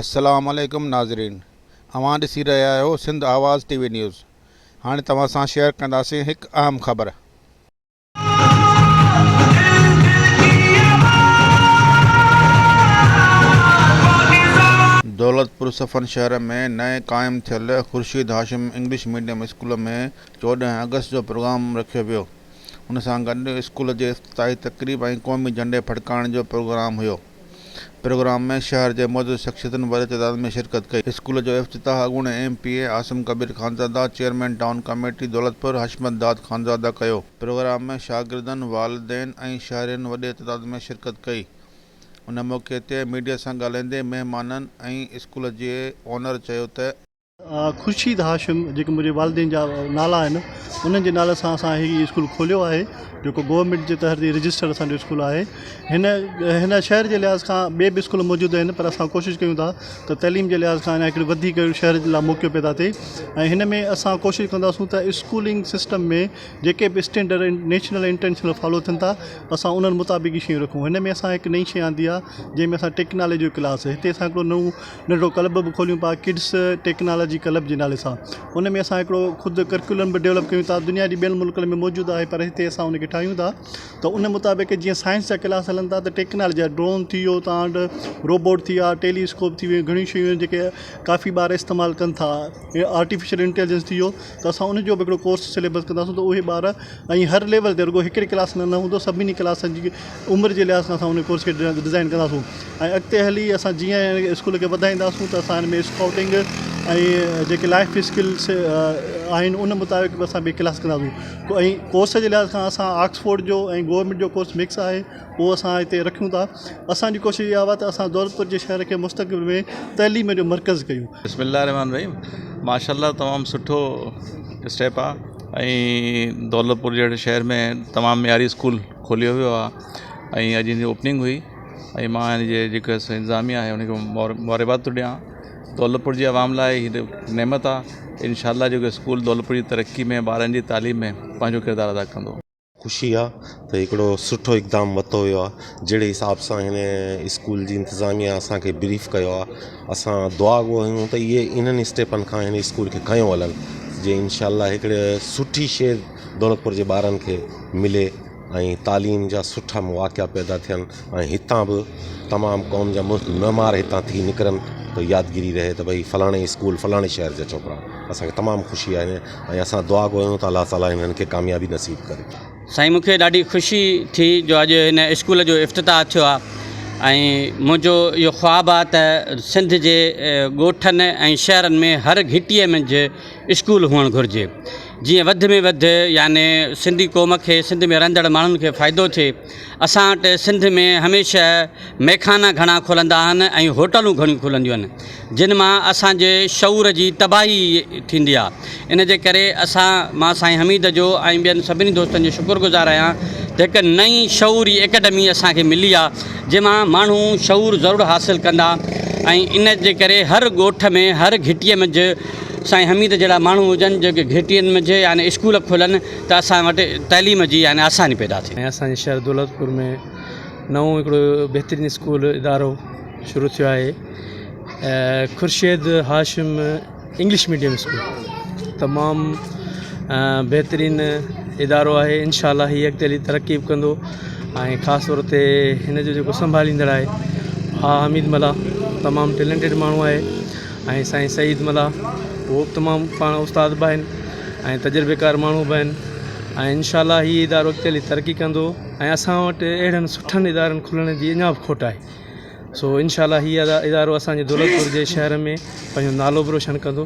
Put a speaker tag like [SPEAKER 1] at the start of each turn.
[SPEAKER 1] السلام عليڪم ناظرين اوهان ڏسي رهيا آهيو Sindh Awaz T V news هاڻي توهان سان شيئر ڪنداسين هڪ اهم خبر. دولتپور صفن شهر ۾ نئين قائم ٿيل Khursheed Hashim English medium school ۾ چوڏهن آگسٽ جو پروگرام رکيو ويو. ان سان گڏ اسڪول جي افتتاحي تقريب ۽ قومي جهنڊي ڦڙڪائڻ جو پروگرام هيو. پروگرام ۾ شهر جي معزز شخصيتن وڏي تعداد ۾ شرڪت ڪئي. اسڪول جو افتتاح اڳوڻي M P A Asim Kabir Khanzada, chairman town committee Daulatpur Hashmat Dad Khanzada ڪيو. پروگرام ۾ شاگردن، والدين ۽ شهرين وڏي تعداد ۾ شرڪت ڪئي. ان موقعي تي ميڊيا سان ڳالهائيندي مهمانن ۽ اسڪول جي اونر چيو ته، خورشيد
[SPEAKER 2] هاشم جيڪي منهنجي والدين جا نالا آهن انهن جي نالي سان اسان هي اسڪول کوليو آهي جيڪو گورنمينٽ جي تحت هي رجسٽرڊ اسان جو اسڪول آهي هن هن شهر جي لحاظ کان ٻي به اسڪول موجود آهن پر اسان ڪوشش ڪيون ٿا ته تعليم جي لحاظ کان اڃا هڪڙي وڌيڪ شهر جي لاء موقعو پيدا ٿئي ۽ هن ۾ اسان ڪوشش ڪنداسون ته اسڪولنگ سسٽم ۾ جيڪي به اسٽينڊرڊ آهن نيشنل انٽرنيشنل فالو ٿين ٿا اسان انهن مطابق ئي شيون رکون هن ۾ اسان هڪ نئين شي آندي آهي جنهن ۾ اسان ٽيڪنالجي جو ڪلاس هتي اسان هڪڙو نئون ننڍڙو ڪلب به کوليون پيا ڪڊس ٽيڪنالاجي ڪلب جي نالي سان ان ۾ اسان هڪڙو خود ڪرڪيولم به ڊيولپ ڪيون ٿا دنيا جي ٻين ملڪن ۾ موجود آهي پر هتي اسان ان کي ٺاهيون ٿا ته ان مطابق جيئن سائنس جا ڪلاس هلن ٿا ته ٽيڪنالاجي جا ڊرون ٿي ويو تان روبوٽ ٿي ويا ٽيلي اسڪوپ ٿي ويو گهڻيون شيون آهن جيڪي ڪافي ٻار استعمال ڪن ٿا آرٽيفيشل انٽيليجنس ٿي ويو ته اسان ان جو به هڪڙو ڪورس سليبس ڪنداسون ته اهي ٻار ائين هر ليول تي رڳو هڪڙي ڪلاس ۾ نه هوندو سڀني ڪلاسن جي عمر جي لحاظ سان اسان ان ڪورس کي ڊزائين ڪنداسون ۽ اڳتي هلي اسان جيئن هن اسڪول کي وڌائينداسون ته اسان هن ۾ اسڪائوٽنگ ۽ جيڪي لائيف اسڪلس آهن ان مطابق به اسان ٻي ڪلاس ڪنداسون ڪورس جي لحاظ کان اسان آڪسفورڊ جو ۽ گورمينٽ جو ڪورس مڪس آهي اهو اسان هتي رکيون ٿا اسان جي ڪوشش اها ته اسان دولتپور جي شهر کي مستقبل ۾ تعليم جو مرڪز ڪيون. بسم الله الرحمن الرحيم
[SPEAKER 3] ماشاء الله تمام سٺو اسٽيپ آ ۽ دولتپور جهڙي شهر ۾ تمام معياري اسڪول کوليو ويو آ ۽ اڄ هنجي اوپننگ هئي ۽ مان هن جي جيڪو انتظاميا آهي ان کي مبارڪباد ٿو ڏيان دولتپور جي عوام لاء هي ته نعمت آ انشاء الله جيڪو اسڪول دولتپور جي ترقي ۾ ٻارن جي تعليم ۾ پنهنجو ڪردار ادا ڪندو. خوشي آ
[SPEAKER 4] ته هڪڙو سٺو اقدام ورتو ويو آ جهڙي حساب سان هن اسڪول جي انتظاميا اسان کي بريف ڪيو آ اسان دعا گو آهيون ته اهي انهن اسٽيپن کان هن اسڪول کي کنيو هلن جي انشاء الله هڪڙي سٺي شي دولتپور جي ٻارن کي ملي ۽ تعليم جا سٺا مواقعا پيدا ٿين ۽ هتان به تمام قوم جا ملڪ معمار هتان ٿي نڪرن ته يادگيري رهي ته ڀئي فلاڻي اسڪول فلاڻي شهر جا ڇوڪرا اسان کي تمام خوشي آهي ۽ اسان دعا گهريون ته الله تعالي هنن کي ڪاميابي نصيب ڪري. سائين مون کي ڏاڍي
[SPEAKER 5] خوشي ٿي جو اڄ هن اسڪول جو افتتاح ٿيو آهي ۽ منهنجو اهو خواب آهي ته سنڌ جي ڳوٺن ۽ شهرن ۾ هر گهٽيء منجهه اسڪول هئڻ گهرجي جيئن وڌ ۾ وڌ يعني سنڌي قوم کي سنڌ ۾ رهندڙ ماڻهن کي فائدو ٿئي اسان وٽ سنڌ ۾ هميشه مئخانا گهڻا کلندا آهن ۽ هوٽلون گهڻيون کلنديون آهن جن مان اسان جي شعور جي تباهي ٿيندي آهي ان جي ڪري اسان مان سائين حميد جو ۽ ٻين سڀني دوستن جو شڪر گذار آهيان ته هڪ نئين شعوري اڪيڊمي اسان کي ملي آهي جنهن مان ماڻهو شعور ضرور حاصل ڪندا ۽ ان جي ڪري هر ڳوٺ ۾ هر گهٽي منجهه سائين حميد جهڙا ماڻهو هجن جيڪي گهٽين منجهه يا اسڪول کولن ته اسان وٽ تعليم جي يعني آساني پيدا ٿيندي. ۽ اسان جي شهر دولتپور
[SPEAKER 6] ۾ نئون هڪڙو بهترين اسڪول ادارو شروع ٿيو آهي Khursheed Hashim English medium school تمام بهترين ادارو آهي انشاء الله هي اڳتي هلي ترقي به ڪندو ۽ خاص طور تي هن جو جيڪو سنڀاليندڙ آهي آء حميد ملاح تمام ٽيلنٽيڊ ماڻهو آهي ۽ سائين سعيد ملاح هو به تمام پاڻ استاد به آهن ۽ تجربيڪار ماڻهو به آهن ۽ انشاء الله هي ادارو اڳتي هلي ترقي ڪندو ۽ اسان وٽ اهڙن سٺن ادارن کلڻ جي اڃا به کوٽ آهي سو انشاء الله هي ادارو اسانجي دولت پور جي شهر ۾ پنهنجو نالو به روشن ڪندو